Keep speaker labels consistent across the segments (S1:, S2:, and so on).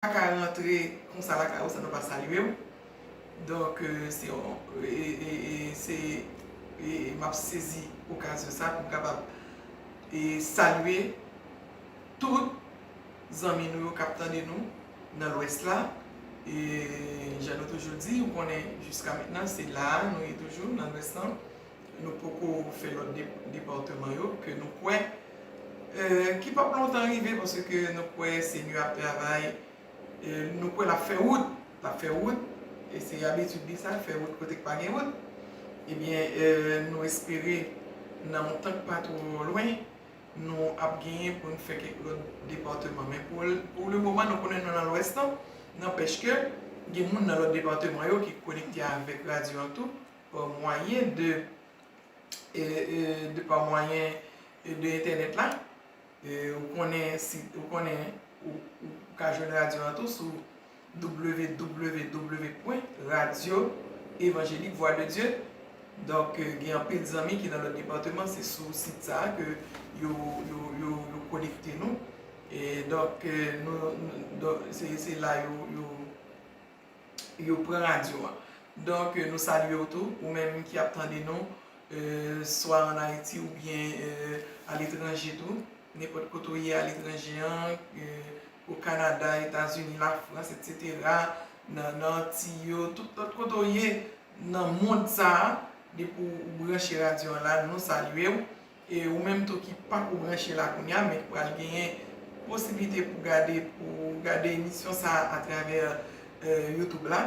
S1: ka rantre konsa lakay ou san nou pa salye w donk se yon se m ap sezi okazyon sa pou m kapab salye tout zanmi nou yo k ap tande nou nan lwès la e jan nou toujou di ou konnen jiska mentnan se la a nou ye toujou nan lwès lan Nou poko fè lòt departeman yo ke nou kwè ki pap lontan rive paske nou kwè Senyè ap travay nou kwè lap fè wout lap fè wout e se abitid li sa fè wout kote k pa gen wout ebyen nou espere nan yon tan k pa twò lwen nou ap genyen pou nou fè kèk lòt departeman men pou le moman nou konnen nan lwès lan nanpèch ke gen moun nan lòt departeman yo ki konekte avèk radyo an tou pa mwayen de de pa mwayen de entènèt la ou konnen si ou konnen ou ka jwenn radyo an tou sou www pwen radyo evanjelik vwa de Dye donk gen anpil zanmi ki nan lòt depatman se sou sit sa a ke yo yo konekte nou e donk nou se la yo yo yo pran radyo a. Donk nou salye w tou, ou menm ki ap tande nou swa an Ayiti oubyen aletranje tou, nenpòt kote ou ye aletranje an, o Kanada, Etazini, Lafrans, etsetera, nan Antiy yo, tout lòt kote ou ye nan mond sa a, depi ou branche radyo an la, nou salye w. E ou menm tou ki panko branche la kounya men ki pral genyen posiblite pou gade pou gade emisyon sa a atravè youtube la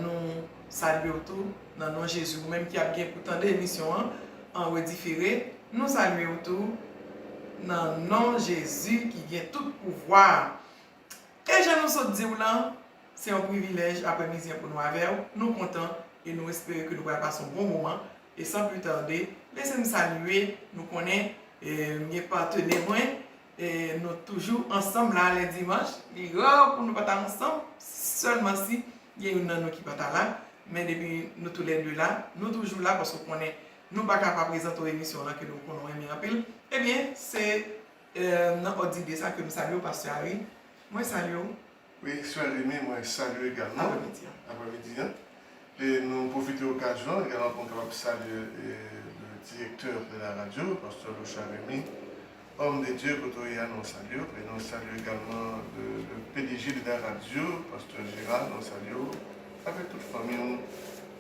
S1: nou salye w tou nan non Jezi. Ou menm ki ap gen pou tande emisyon an an redifere nou salye w tou nan non Jezi ki gen tout pouvwa a. E jan nou sot di w lan se yon privilèj aprèmidi an pou nou avè w. Nou kontan e nou espere ke nou pral pase yon bon moman E san pli tande, lese m salye nou konnen m gen patene mwen, nou toujou ansanm la lè dimanch, li ra pou nou pa ta ansanm, sèlman si gen youn nan nou ki pa ta la, men depi nou tou lè 2 la, nou toujou la paske w konnen nou pa ka pa prezante w emisyon w lan ke nou konnen w renmen anpil, ebyen se nan òd dide sa ke m salye w pastè Ary, mwen salye w Wi Cher
S2: Amy mwen salye egalman apremidi an
S1: e
S2: nou pwofite okazyon an egalman pou m kapab salye le direktè de la radyo Pasteur Lochard Remy Homme de Dieu kote w ye a nou salye w e nou salye egalman le pdg de la radyo Pasteur Gérard nou salye w avèk tout fanmi w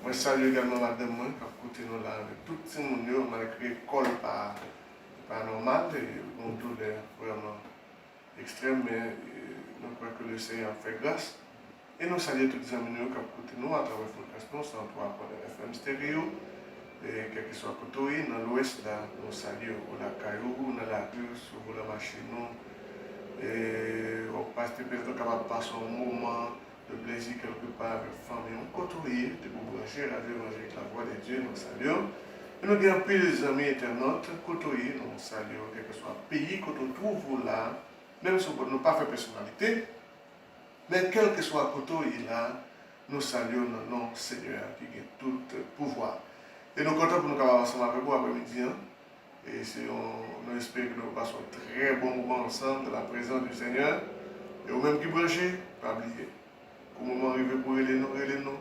S2: mwen salye egalman madanm mwen kap koute nou la avèk tout timoun yo malgre kò l pa nòmal e l gon doulè vrèman. Ekstrèm men nou kwè ke le Senyè ap fè gras e nou salye tout zanmi nou yo kap koute nou atravè frekans nou 103 pwen 1 FM stereo kèlkeswa kote ou ye nan lwès la nou salye ou lakay ou ou nan lari ou sou volan machin ou wap pase petèt ou kapab pase yon moman Yon plezi ke ou te pa avek fanmi ou kote ou ye depi ou branche radio evanjelik la vwa de Dye nou salye w e nou gen anpil zanmi entènot kote ou ye nou salye w kelkeswa peyi kote ou trouve ou la menm si nou pa fè pèsonalite men kelkeswa kote ou ye la nou salye w nan non Senyè a ki gen tout pouvwa e nou kontan pou nou kapab ansanm avek ou apremidi an e se yon nou espere ke nou pral pase yon trè bon moman ansanm nan la prezans du Senyè e ou menm ki branche pa bliye kou moman rive pou rele nou rele nou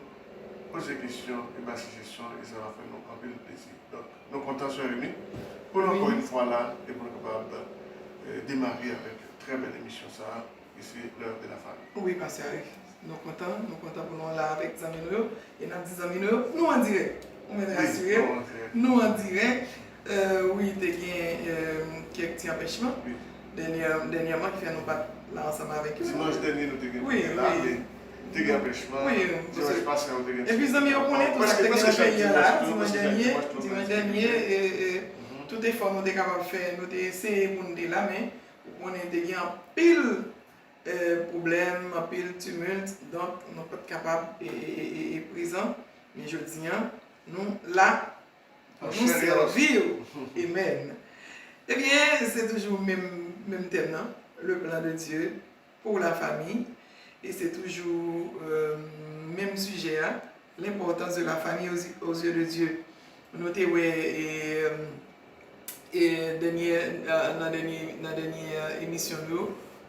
S2: poze kesyon e bay sijesyon e sa va fè nou anpil plezi donk nou kontan sè Emi pou nou ankò yn fwa la e pou nou kapab demare avèk trè bèl emisyon sa. e se lè wap gen nan fanmi. Wi pastè Alex
S1: nou kontan nou kontan pou nou la avèk zanmi nou yo e nap di zanmi nou yo nou an dirèk ou mèt rasire nou an dirèk wi te gen kèk ti anpèchman
S2: dènyèman
S1: ki fè nou pat la ansanm avèk yo dimanch dènye nou te gen pou nou
S2: la men
S1: te
S2: gen anpèchman dimanch pase
S1: a ou te
S2: gen epi zanmi yo konnen
S1: tout
S2: sa
S1: ki te gen nan peyi a la dimanch dènye dimanch dènye tout efò nou te kapab fè nou te eseye pou nou te la men Ou konnen te gen anpil pwoblèm, anpil tumult, donk nou pat kapab prezan, men jodi an nou la pou nou sèvi w. Amen! Ebyen se toujou menm tèm nan, le plan de Dieu. Pou la famille et c'est toujours menm sujet a l'importance de la famille aux yeux de Dieu nou te wè nan dènyè emisyon nou yo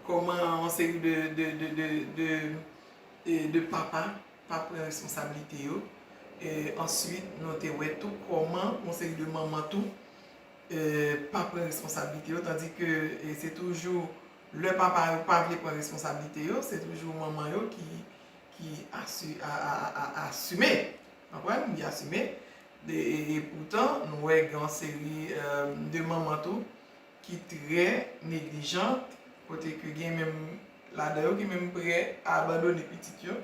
S1: kòman yon seri de papa pa pran responsabilité yo ensuite nou te wè tou kòman yon seri de manman tou pa pran responsabilité yo tandis que c'est toujours Lè papa yo pa vle pran responsabilite yo, se toujou manman yo ki asime, konprann, li asime. E poutan, nou wè gen yon seri de manman tou ki trè neglijant, kote ke gen menm ladan yo ki menm prè a abandone pitit yo,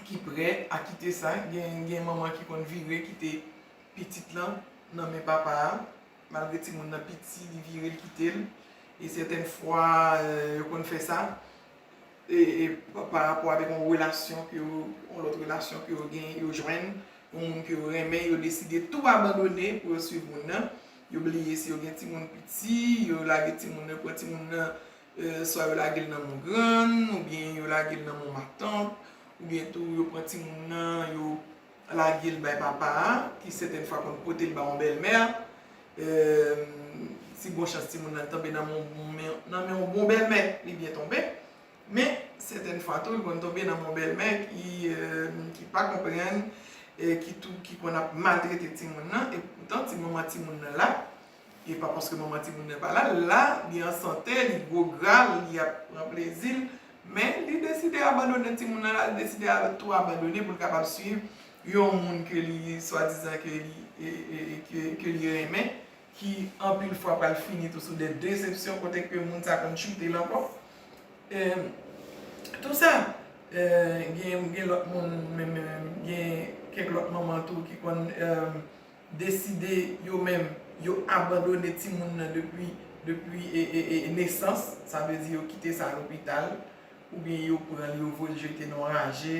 S1: ki prè a kite sa. Gen manman ki konn vire kite pitit lan nan men papa a. Malgre timoun nan piti li vire l kite l e sètèn fwa yo konn fè sa pa rapò avèk yon relasyon ke yo, yon lòt relasyon ke yo gen, yo jwenn yon moun ke yo renmen, yo deside tou abandone pou yo swiv moun nan, yo bliye si yo gen timoun piti, yo lage timoun nan, yo pran timoun nan swa yo lage l nan men yon grann oubyen yo lage l nan men yon matant oubyen tou yo pran timoun nan yo lage l bay papa a, ki sètèn fwa konn pote l ba yon bèlmè, si bon chans timoun nan tonbe nan men yon bon bèlmè, li byen tonbe, men sètèn fwa tou li konn tonbe nan men yon bèlmè ki pa konprann, ki konn ap maltrete timoun nan, e poutan ti manman timoun nan la, E pa paske manman timoun nan pa la, l la, li an sante, li gwo gra, li ap pran plezi l, men li deside abandone timoun nan, l al deside tou abandone pou l kapab suiv yon moun ke li swadizan ke li ke li renmen, ki anpil fwa pral fini tou sou de desepsyon kote ke moun sa konn choute l ankò. E tou sa, gen lòt moun menm, gen kèk lòt manman tou ki konn deside yo menm yo abandone timoun nan depi depi nesans, sa vle di yo kite sa lopital oubyen yo pran l yo voye l jete nan yon raje,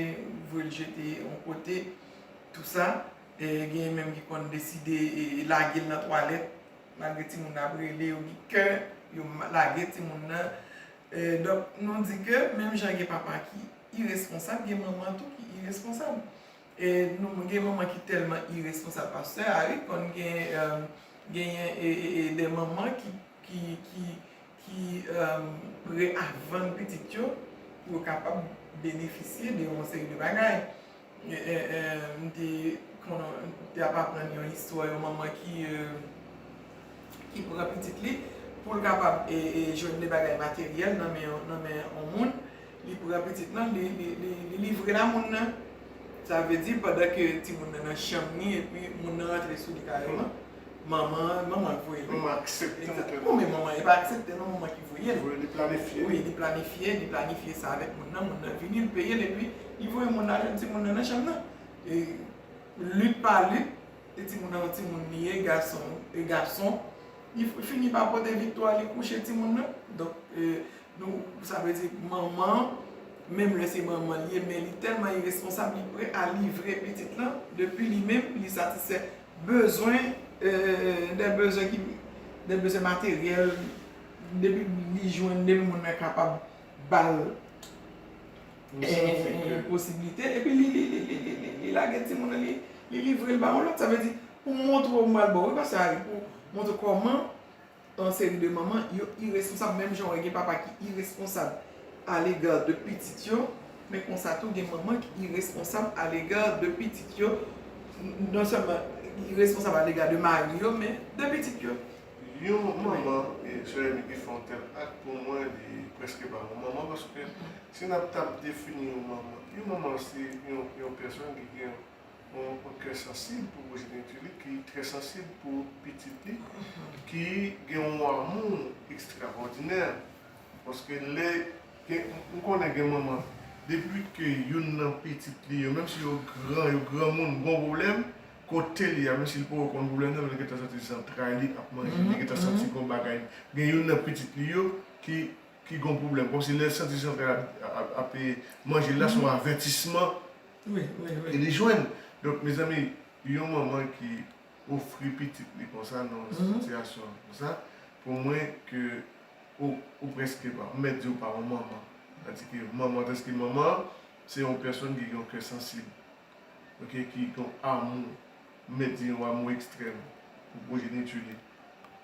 S1: voye l jete yon kote tou sa, genyen menm ki konn deside lage l nan twalèt malgre timoun nan ap rele yo gen kè yo lage timoun nan donk nou di ke menm jan gen papa ki iresponsab gen manman tou ki iresponsab. Nou gen manman ki telman iresponsab pastè a wi konn gen genyen de manman ki pre a vann pitit yo pou yo kapab benefisye de yon seri de bagay m te te ap aprann yon istwa yon manman ki ki pran pitit li pou l kapab jwenn de bagay materyèl nan men yon moun Li pran pitit lan, li livrel a moun nan. Sa vle di pandan ke timoun nan nan chanm ni epi moun nan rantre sou li kareman, manman an, manman an k voye l. Manman an aksepte
S2: l ke. Non men manman an, e pa
S1: aksepte non, manman an ki voye l. Li planifye. Wi,
S2: li planifye,
S1: li planifye sa avèk moun nan, moun nan vini, l peye l epi li voye moun nan al jwenn timoun nan nan chanm nan. E lit pa lit, e timoun nan yon timoun li ye, gason, e gason, li fini pa pote viktwa, li kouche timoun nan. Donk. Nou, sa vle di manman, menm lè se manman li ye men li tèlman iresponsab li prè a livre pitit lan depi li menm li satisfè bezwen dè bezwen ki dè bezwen materyèl depi li jwenn depi moun nan kapab ba l posibilite epi li li li li li li lage timoun nan li livre l ba yon lòt sa vle di pou montre w m pral ba w wi pastè Ari pou montre w kòman Yon seri de manman yo iresponsab menm jan wè gen papa ki iresponsab alega de pitit yo, men konsa tou gen manman ki iresponsab alega de pitit yo, non sèlman iresponsab alega de mari yo men de pitit yo. Yon
S2: manman, Jeremie ki fè yon tèl ak pou mwen li prèske pa yon manman paske si nap tap defini yon manman, yon manman se yon pèsòn ki gen Yon moun trè sansib pou pwojeniti li, ki trè sansib pou pitit li, ki gen yon amou ekstrawòdinè. Paske lè gen, nou konnen gen manman, depi ke youn nan pitit li yo, menm si yo gran, yo granmoun, gon pwoblèm, kote li a, menm si li poko konn pwoblèm nan, men li gentan santi zantray li ap manje, li gentan santi gon bagay, gen youn nan pitit li yo ki, ki gon pwoblèm. Kòmsi lè l santi zantray la ap manje l la, se yon avètisman e li jwenn donk mezanmi yon manman ki ofri pitit li konsa nan yon sitiyasyon konsa pou mwen ke ou preske pa m mèt di ou pa yon manman tadi ke manman deske manman se yon pèsonn ki gen yon kè sansib ok ki gen yon amou m mèt di yon amou ekstrèm pou pwojeniti li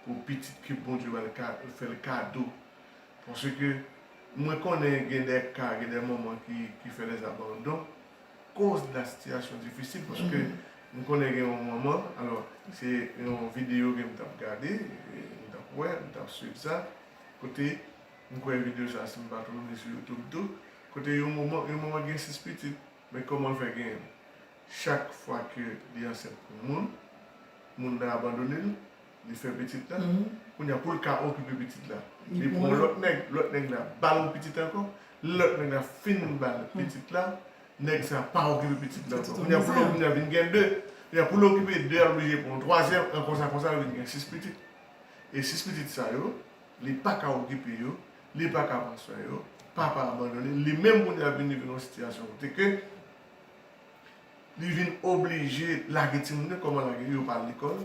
S2: pou pitit ke Bondye ba l ka fè l kado. Paske mwen konnen gen dè ka, gen dè manman ki fè dè abandon koz de la sitiyasyon difisil paske m konnen gen yon manman, alò se yon videyo ke m t ap gade, m t ap wè, m t ap swiv sa, kote m kwè videyo sa si m pa twonpe m li sou youtube tou, kote yon manman, yon manman gen 6 pitit men kòman l fè gen chak fwa ke li ansent pou moun, moun nan abandone l, Li fè pitit la, kounya poul ka okipe pitit la, li pran yon lòt nèg, lòt nèg la bal yon pitit ankò, lè lòt nèg la fin bal pitit la, nèg sa pa okipe pitit la ankò. Kounya poul kounya vin gen 2, kounya poul okipe 2 a li blije pran yon twazyèm, an konsa konsa li vin gen 6 pitit. E 6 pitit sa yo, li paka okipe yo, li paka pran swen yo, papa abandone, li menm kounya vin rive nan yon sitiyasyon kote ke li vin oblije lage timoun yo, kòman lage yo, yo pa al lekòl,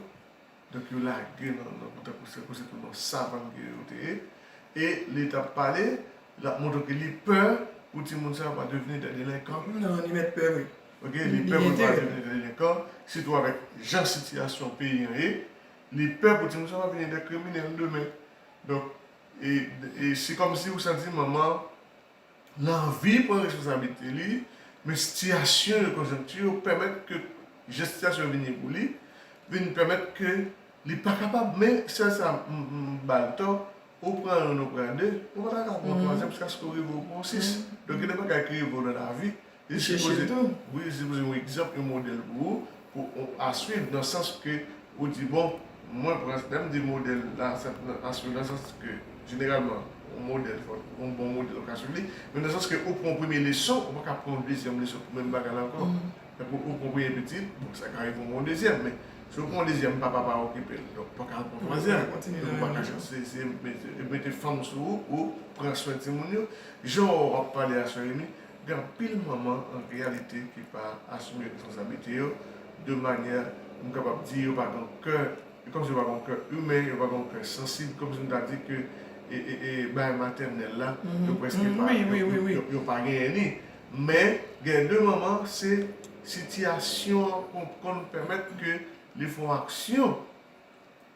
S2: Donk yo lage nan nan tankou se kou se tou nan savann ke yo te ye e li tap pale lap montre ke li pè pou timoun sa yo pa devni dè delenkan. Nan li mèt pè vre.
S1: Ok li pè pou
S2: l pa devni dè delenkan sitou avèk jan sitiyasyon peyi an ye li pè pou timoun sa yo pa vini dè kriminèl demen donk e e se kòmsi ou santi manman Lanvi pran responsablite li, men sitiyasyon yo, konjonkti yo pèmèt ke jan sitiyasyon yo vin ye pou li, vin pèmèt ke li pa kapab. Men sèl sa m ba l tò, ou pran youn ou pran de, ou pa ta ka pran twazyèm jiskaske ou rive ou pran sis. Donk gen de bagay ki rive w nan lavi, Li sipoze tou. Wi, li sipoze yon egzanp, yon modèl pou ou, pou ou a swiv nan sans ke ou di bon, mwen pran, lè m di modèl la sa a swiv nan sans ke jeneralman yon modèl fò yon bon modèl ou ka swiv li, men nan sans ke ou pran yon premye leson ou pa ka pran yon dezyèm leson pou menm bagay la ankò. Tankou ou pran yon premye pitit, bon sa ka rive ou pran yon dezyèm men si ou pran yon dezyèm papa pa okipe l donk ou pa ka al pran yon twazyèm donk ou pa ka se se mete fanm sou ou pou pran swen timoun yo. Jan ou ap pale a sè Remy, Gen anpil manman an reyalite ki pa asime responsabilite yo de manyè m kapab di yo pa gen kè, e kòmsi yo pa gen yon kè imen, yo pa gen yon kè sansib, kòmsi m ta di ke bagay matènèl la yo prèske pa, yo pa genyen li. Men, gen de manman se sitiyasyon an konn pèmèt ke li fè yon aksyon.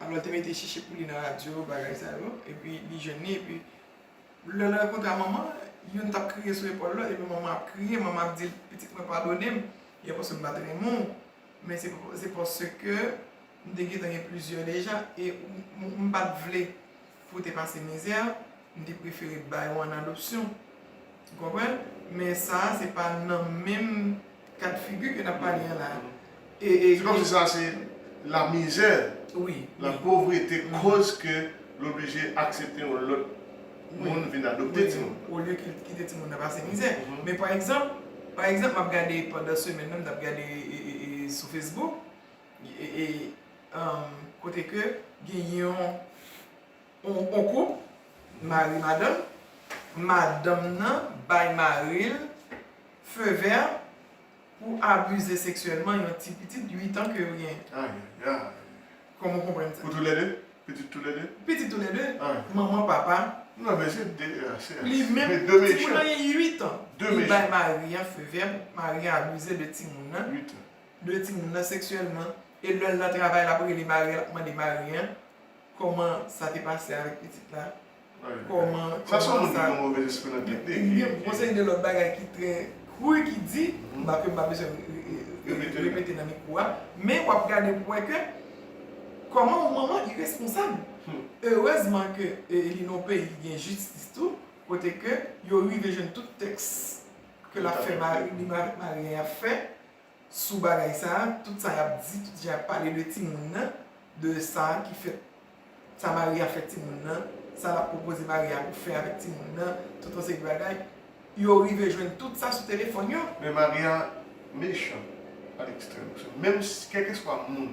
S1: Amnò te mete chichi pou li nan radyo bagay sa yo epi li jwenn li epi lè l rankontre a manman youn tap kriye sou epòl lòt epi manman ap kriye manman ap dil pitit mwen padone m e paske m pat renmen w men se paske m te gentan gen plizyè deja e m pat vle Pou te pase mizè, m te prefere bay ou an adopsyon. Ou konprann? Men sa a se pa nan menm kad figi ke n ap pale an la a. E, e. Se kòmsi
S2: sa se lamizè, lapovrete koz ke l oblije aksepte yon lòt moun vin adopte timoun nan. Olye ke l kite
S1: timoun nan pase mizè. Men pa egzanp, pa egzanp m ap gade pandan semèn nan, m t ap gade sou Facebook, Kote ke gen yon koup, mari madanm, madanm nan bay mari l feu vert pou abuze seksyèlman yon ti pitit 8 an ke yo genyen. Ayayayy. Kòman w konprann sa? Pou tou lè 2? Pitit
S2: tou lè 2? Pitit tou lè 2.
S1: Manman, papa. Non men se
S2: 2 an. Se 2 mechan.
S1: Ti moun nan gen
S2: 8 an.
S1: Li bay mari
S2: an feu
S1: vert pou mari an abuze de ti moun nan. 8 an. de
S2: timoun nan
S1: seksyèlman e lèl nan travay lap rele maril ap mande mari an kòman sa te pase avèk pitit la kòman sa son moun ki gen
S2: move lespri nan tèt li gen yon seri de lòt
S1: bagay ki trè kru ki di m pa kem pa bezwen repete nan mikwo a men wap gade pou wè ke kòman yon manman iresponsab erezman ke li nan yon peyi ki gen jistis tou kote ke yo rive jwenn tout tèks ke lap fè mari li mari an ap fè sou bagay sa, tout sa yap di, tout jan yap pale de timoun nan, de sa ki fèt, sa mari a fè timoun nan, sa lap pwopoze mari a pou fè avèk timoun nan, tout yon seri de bagay, yo rive jwenn tout sa sou telefòn yo. Men mari a
S2: mechan a lekstrèm, paske menm si kèlkeswa moun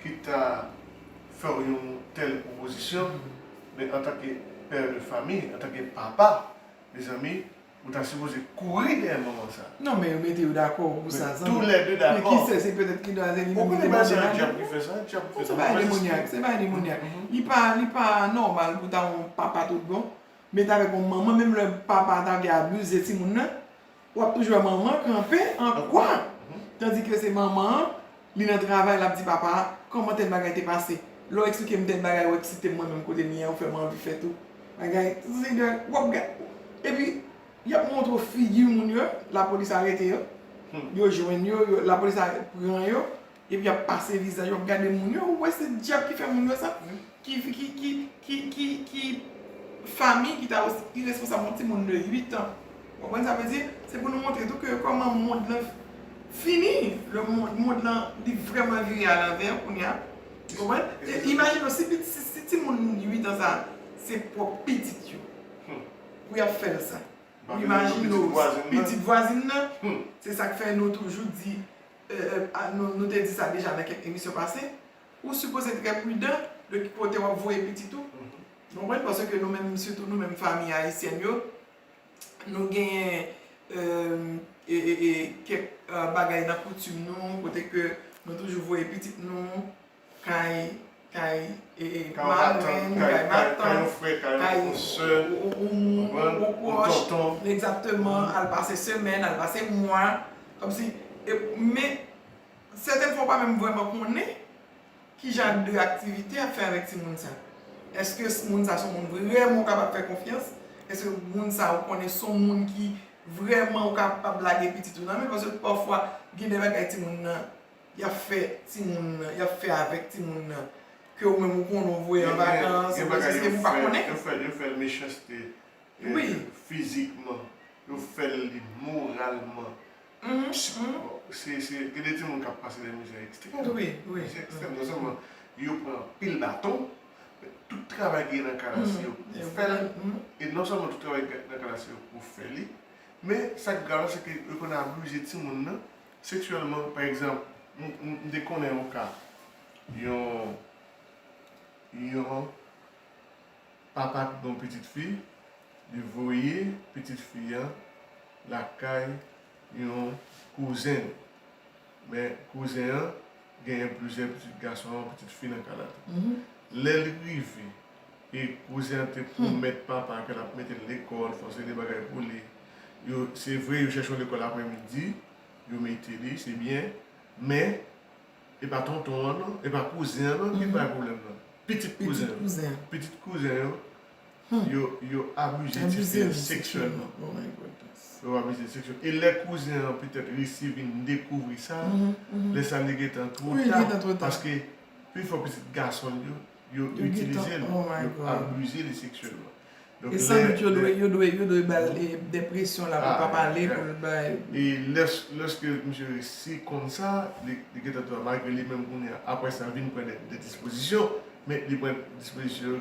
S2: ki ta fèw yon tèl pwopozisyon, men antanke pè de fami, antanke papa, mezanmi, Ou ta sipoze kouri dèyè manman sa. Non men yo mete yo dakò
S1: pou sa zanmi. Tou lè 2 dakò. Men ki
S2: sè se petèt ki dwa zeni.
S1: Ou konnen bay se yon dyab
S2: ki fè sa. Dyab ki fè sa. Se bagay demonyak. Se bagay
S1: demonyak. Li pa li pa nòmal pou ta yon papa tout bon. Met avèk yon manman menm lè papa a ta vle abize timoun nan. Wap toujou wè manman kanpe an kwa. Tandike se manman an. Li nan travay lap di papa a kòman tèl bagay te pase lèw eksplikem tèl bagay ou eksite mwen menm kote mye an ou fèm anvi fè tou bagay zin girl wap gad epi yap montre w figi moun yo lapolis arete yo yo jwenn yo lapolis pran yo epi yap pase vizaj wap gade moun yo ou wè se dyab ki fè moun yo sa. Ki fi ki ki ki ki ki fami ki ta osi iresponsab yon ti moun de 8 an. Ou konprann sa vle di? Se pou nou montre tou ke kòman mond lan fini. Le mond mond lan li vrèman vire a lanvè kounye a. Ou konprann? E imajine w si pit si si ti moun 8 an sa a se pwòp pitit yo pou y ap fè l sa. Ou imajine w pitit vwazin nan. Se sa k fè nou toujou di e e a nou nou te di sa deja nan kèk emisyon pase. ou sipoze trè pridan de ki kote wap voye pitit ou nou konprann pase ke nou menm sitou nou menm famiy ayisyèn yo nou genyen kèk bagay nan koutim nou kote ke nou toujou voye pitit nou kay kay madanm kay matant kay yon frè kay yon sè yon moun yon pwòch al pase semèn al pase mwa men Sèten fwa w pa menm vrèman konnen ki jan de aktivite y ap fè avèk timoun sa. Èske moun sa se yon moun vrèman ou kapab fè konfyans? Èske moun sa ou konnen se yon moun ki vrèman ou kapab lage pitit ou nan men? Paske pafwa gen de bagay timoun nan y ap fè timoun nan, y ap fè avèk timoun nan ke ou menm ou konnen ou voye an vakans, ou fè sèke ou pa konnen. Gen bagay yo fè l mechanste
S2: fizikman, yo fè l li moralman, Gen de timoun k ap pase de mizè ekstrèm. Mizè ekstrèm non
S1: sèlman
S2: yo pran anpil baton, men tout travay ki gen nan kana si yo pou fè l. E non sèlman tout travay ki gen nan kana si yo pou fè li, men sa k grav la se ke yo konn abize timoun nan seksyèlman. Pa egzanp, m te konnen yon ka, yon Papa t gon pitit fi li voye pitit fi an lakay yon kouzen li men kouzen an genyen plizyè pitit gason ak pitit fi nan kay la tou lè li rive e kouzen an te pwomèt papa ke lap metel lekòl fè yon seri de bagay pou li yo se vre yo chèche yon lekòl aprè midi yo mete li se byen men E pa tonton an non, e pa kouzen an non ki bay pwoblèm nan. Pitit kouzen an. Pitit kouzen yo, yo abize ti fi an seksyèlman. Yo abize l seksyèlman. E lè kouzen an petèt resi vin dekouvri sa, lè sa li gen tan twò ta. Paske pi fò pitit gason l yo. yo itilize l, yo abize li seksyèlman. E san
S1: dout yo dwe, yo dwe, yo dwe ba l dè presyon la pou l pa pale, pou l bay. E
S2: lè, lèske misye resi konn sa, li, li gentan tou a, malgre li menm kounye a, apre sa vin pran dè, dè dispozisyon, men li pran dispozisyon yo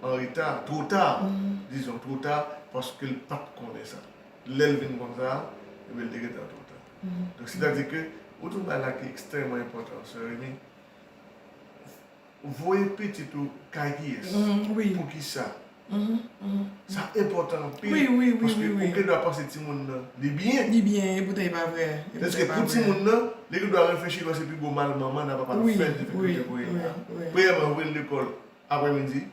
S2: an reta, two ta, dizon, two ta, paske l pa t konnen sa. Lè l vin konn sa, ebyen li te gentan two ta. Donk sètadi ke, ou di yon bagay la ki ekstrèman enpòtan, sè Remy. Voye pitit ou kay kiyès? Poukisa? Sa enpòtan anpil paske
S1: ou gen dwa
S2: panse timoun nan li byen. Li byen e poutan e pa
S1: vrè. Paske pou timoun
S2: nan, li gen dwa reflechi lò se pi gwo mal manman l ak papa l fè l te fè kouche pou li a. Premyèman yo voye l lekòl aprè midi,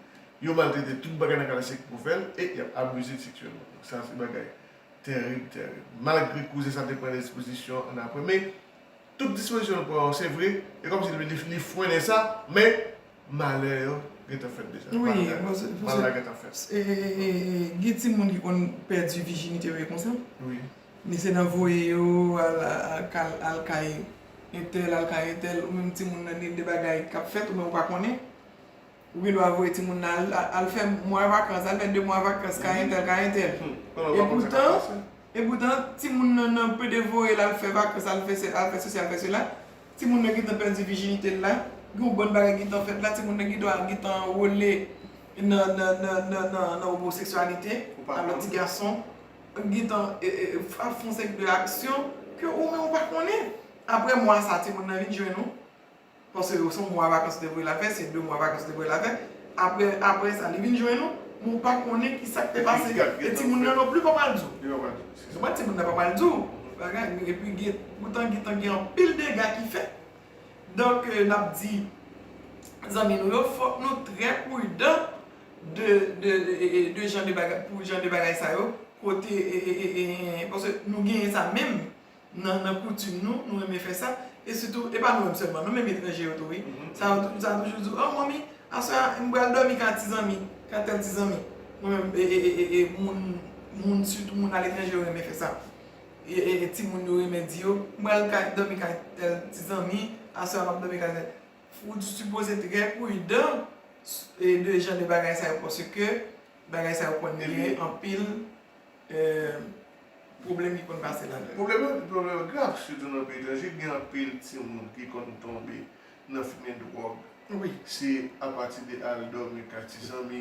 S2: yo maltrete tout bagay nan kay la se pou fè l e y ap abize l seksyèlman. Donk sa se bagay tèrib tèrib. Malgre kouzen sa te pran lespozisyon an aprè men. Tout dispozisyon l pran yo se vre, e kòmsi li frennen sa, men malè yo gentan fèt deja.
S1: Mal la gentan
S2: fèt.
S1: Gen timoun ki konn pèdi vijinite yo e konsa. Men se
S2: nan voye
S1: yo al kay entèl, al kay entèl, ou menm timoun nan gen de bagay k ap fèt ou menm ou pa konnen. Ou gen dwa voye timoun nan al fè mwa vakans, al fè de mwa vakans kay entèl, kay entèl. E poutan, Epoutan, timoun nan nan pe devore l al fè vakans, al fè sè, al fè sesi, al fè sela. Timoun nan gentan pèdi vijinite l la. Gen yon bann bagay ki gentan fèt la. Timoun nan gentan al gentan anwole nan omoseksyalite avèk ti gason. Li gentan al fè yon seri de aksyon ke ou menm ou pa konnen. Aprè mwa sa, timoun nan vin jwenn ou. Paske yo son mwa vakans te voye la fè, se 2 mwa vakans te voye la fè. Aprè, aprè sa li vin jwenn ou, men ou pa konnen ki sa k te pase. E timoun nan nonpli pa pral di ou. Yo pa pral di ou. Se sa. Timoun nan pa pral di ou. Bagay, epi gen, poutan gen tan gen anpil dega ki fèt. Donk, n ap di zanmi nou yo, fòk nou trè pridan de, de, de jan de bagay, pou jan de bagay sa yo. Kote, paske nou genyen sa menm. Nan koutim nou, nou renmen fè sa. E sitou, e pa nou menm sèlman non, menm etranje yo tou wi. Sa yo toujou di w, oh manmi, aswè a m pral dòmi ka ti zanmi, ka tèl ti zanmi. Mwen menm, e moun, sitou moun aletranje yo renmen fè sa. E timoun yo renmen di yo, m pral kay dòmi kay tèl ti zanmi, aswè a m ap dòmi kay tèl. Ou sipoze trè pridan de jan de bagay sa yo paske bagay sa yo konn gen anpil Pwoblèm ki konn pase la. Pwoblèm yo grav
S2: sitou nan peyi etranje, gen anpil timoun ki konn tonbe nan fimen dwòg. Wi. Se
S1: apati
S2: de al dòmi kay ti zanmi,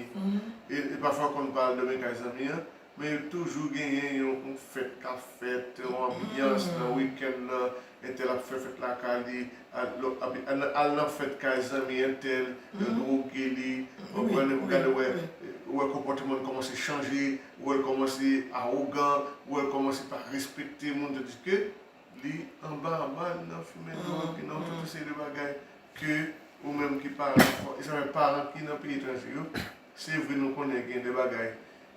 S2: e pafwa yo konn pa al dòmi kay zanmi an, men yo toujou genyen yon fèt k ap fèt, yon anbyans nan wikenn nan, Entèl ap fè fèt lakay li, al nan fèt kay zanmi entèl, yo dwoge li, ou konprann, epi gade wè, ou wè konpòteman li kòmanse chanje, ou wè l kòmanse awogan, ou wè l kòmanse pa respekte moun tandiske li anba anba li nan fimen dwòg, li nan tout yon seri de bagay ke ou menm ki paran, e sa fè paran ki nan peyi etranje yo, se vre nou konnen gen de bagay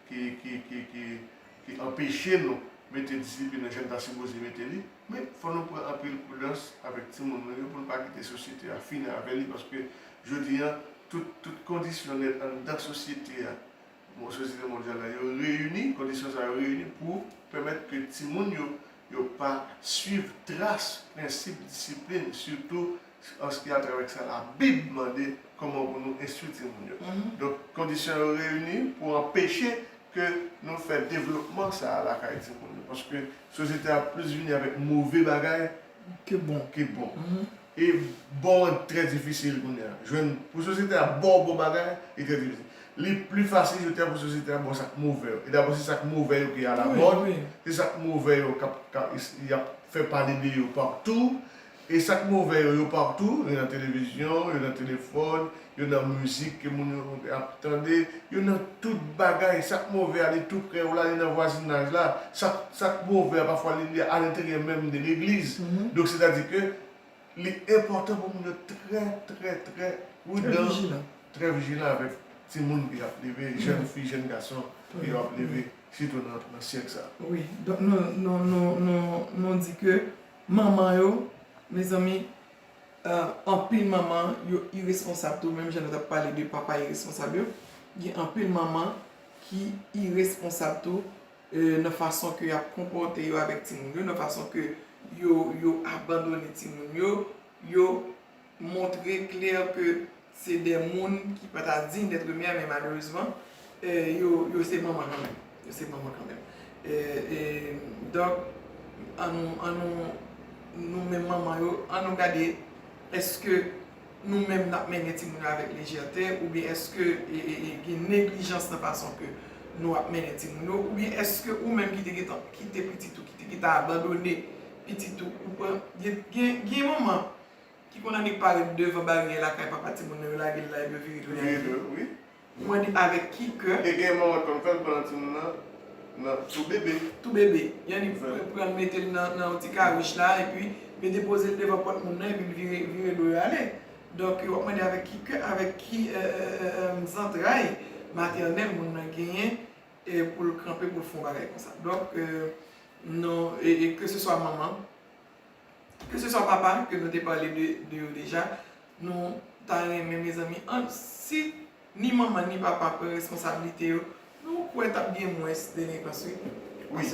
S2: ki anpeche nou mete disiplin nan jan n ta sipoze mete li, Men, fò nou pran anpil prudans avèk timoun nou yo pou n pa kite sosyete a fini avè li paske jodi an, tout, tout kondisyon nèt anndan sosyete a, bon, sosyete mondyal la, yo reyini, kondisyon sa yo reyini pou pèmèt ke timoun yo, yo pa swiv tras prensip disiplin, sitou. Sèans ki antre avèk sa Labib mande kòman pou nou enstwi timoun yo. Donk, kondisyon yo reyini pou anpeche ke nou fè devlopman sa a lakay timoun yo. Paske, sosyete a plis vini avèk move bagay ke bon.
S1: E
S2: bon an trè difisil kounye a. Jwenn, pou sosyete a ba w bon bagay, li trè difisil. Li pli fasil je dya pou sosyete a ba w sa k move yo. E dabò se sa k move yo ki alamòd, se sa k move yo k ap, y ap fè pale de yo patou. E sak move yo, yo partou, yo nan television, yo nan telephone, yo nan music ke moun yo ap tande, yo nan tout bagay, sak move a li tou prè w la, li nan vwazinaj la, sak sak move a pafwa li li a lenteryè menm de legliz, donk se ta di ke li enpòtan pou moun yo trè trè trè prudan, trè vijilan avèk ti moun ke yap leve, jèn fi, jèn gason ke yo ap leve sitou nan syèk sa. Wi, donk
S1: nou nou nou nou di ke Manman yo mezanmi ahh anpil manman yo iresponsab tou menm jan nou tap pale de papa iresponsab yo gen anpil manman ki iresponsab tou nan fason ke yap konpòte yo avèk timoun yo nan fason ke yo abandone timoun yo yo montre klè ke se de moun ki pa ta digne d'être mère men malerezman yo se manman kan menm. Yo se manman kan menm. E donk an nou, an nou, nou menm manman yo, an nou gade eske nou menm n ap mennen timoun yo avèk lejète oubyen eske gen neglijans nan fason ke nou ap mennen timoun yo oubyen eske ou menm ki te gen tan kite pitit ou, ki te gen tan abandone pitit ou, ou pran, gen manman. Ki konn annik parèt devan baryè lakay papa timoun nan yo lage l la epi yo vire do yal li. Ou
S2: mande
S1: avèk ki kè? E gen manman ki konn fè l
S2: pandan timoun nan nan tou bebe. Tou bebe. Yannik pran
S1: l mete l nan yon ti kawich la epi yo depoze l devan pòt moun nan epi l vire do yo ale. Donk w ap mande avèk ki kè, avèk ki zantray matènèl moun nan genyen pou l kanpe pou l fè yon bagay konsa. Donk non, e ke se swa manman. Ke se swa papa ke nou te pale de yo deja, nou ta renmen mezanmi an si ni manman ni papa pran responsablite yo, nou kwè tap gen mwens delenkans wi. Wi,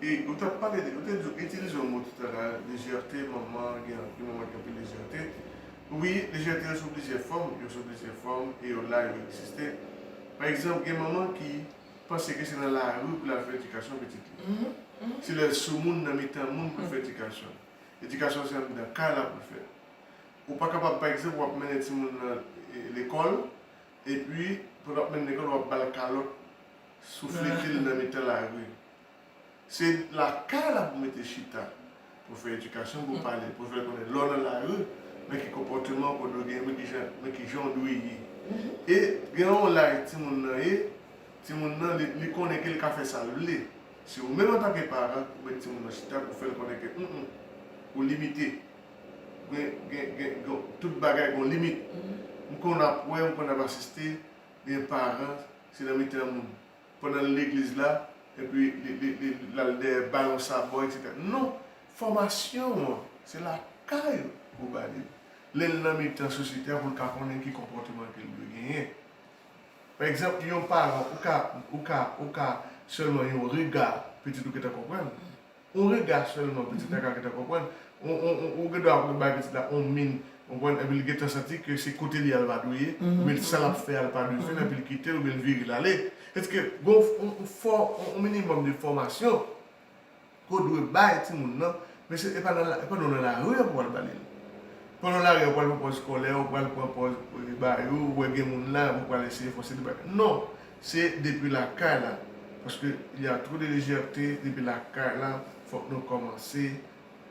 S2: e ou tap pale de, ou te di ou itilize yon mo toutala, lejète, manman gen anpil manman gen anpil lejète. Wi, lejète yo sou plizyè fòm, yo sou plizyè fòm e yo la yo egziste. Pa egzanp gen manman ki. panse ke se nan lari pou l al fè edikasyon pitit li. Se lè l soumoun nan mitan moun pou l fè edikasyon l. Edikasyon l se anndan kay la pou l fèt. Ou pa kapab pa egzanp w ap mennen timoun w lan lekòl epi pandan w ap mennen l lekòl w ap ba l kalòt souflete l nan mitan lari. Se lakay la pou mete chita, pou fè edikasyon, pou pale, pou fè l konnen lè w nan lari, men ki konpòteman ou dwe genyen, men ki jan ou dwe ye. E gen yon laj timoun nan ye, timoun nan li konnen ke li ka fè sa l vle. Se ou menm antanke paran pou met timoun nan chita pou fè l konnen ke m m, ou limite. Tout bagay gen yon limit. M konn ap wè, m konn ap asiste, gen paran se nan mitan moun. pandan l legliz la, epi li l al dèyè bay yon sabò etc. Non, fòmasyon an se lakay ou ba li l, lè l nan mitan sosyete a pou l ka konnen ki konpòteman ke l dwe genyen. Pa egzanp, yon paran ou ka ou ka ou ka sèlman yon rega pitit ou gentan konprann, On rega sèlman pitit la ka gentan konprann, ou gen dwa ap bay pitit la on min, ou konprann, epi li gentan santi ke se kote li a l pa dwe ye, oubyen sa l ap fè a l pa dwe fè l epi l kite l oubyen l vire l ale. Èske gen on minimòm de fòmasyon ke w dwe bay timoun nan? Mesye, e pa nou nan lari a pou w al ba li l. Pou w al nan lari a ou pral pran pòz kòlè, ou pral pran pòz ba yo, ou wè gen moun la epi w pral eseye fòse li bay. Non! Se depi lakay la paske li a trop de lejète depi lakay la fok nou komanse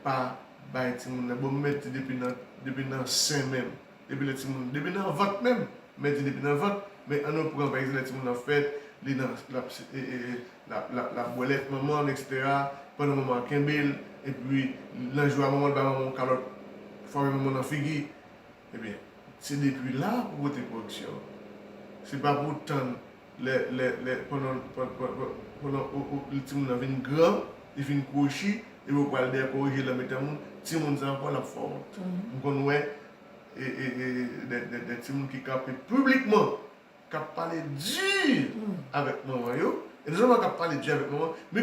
S2: pa bay timoun lè bon mèt di depi nan depi nan sen menm depi lè timoun depi nan vant menm mèt di depi nan vant men annou pran pa egzan lè timoun nan fèt li nan lap lap lap lap bwè lèt manmanl etc pandan manman an kenbel epi nan jou a manmanl bay manmanw kalòt fwape manmanw nan figi. Ebyen se depi la pou pote koreksyon an. Se pa pou w tann lè timoun nan vin gran, li fin kwochi, epi ou pral dèyè korije l nan mitan moun, timoun sa ankò l ap fè w wont. M konn wè de timoun ki kanpe piblikman k ap pale di avèk manman yo, e non sèlman k ap pale di avèk manman, men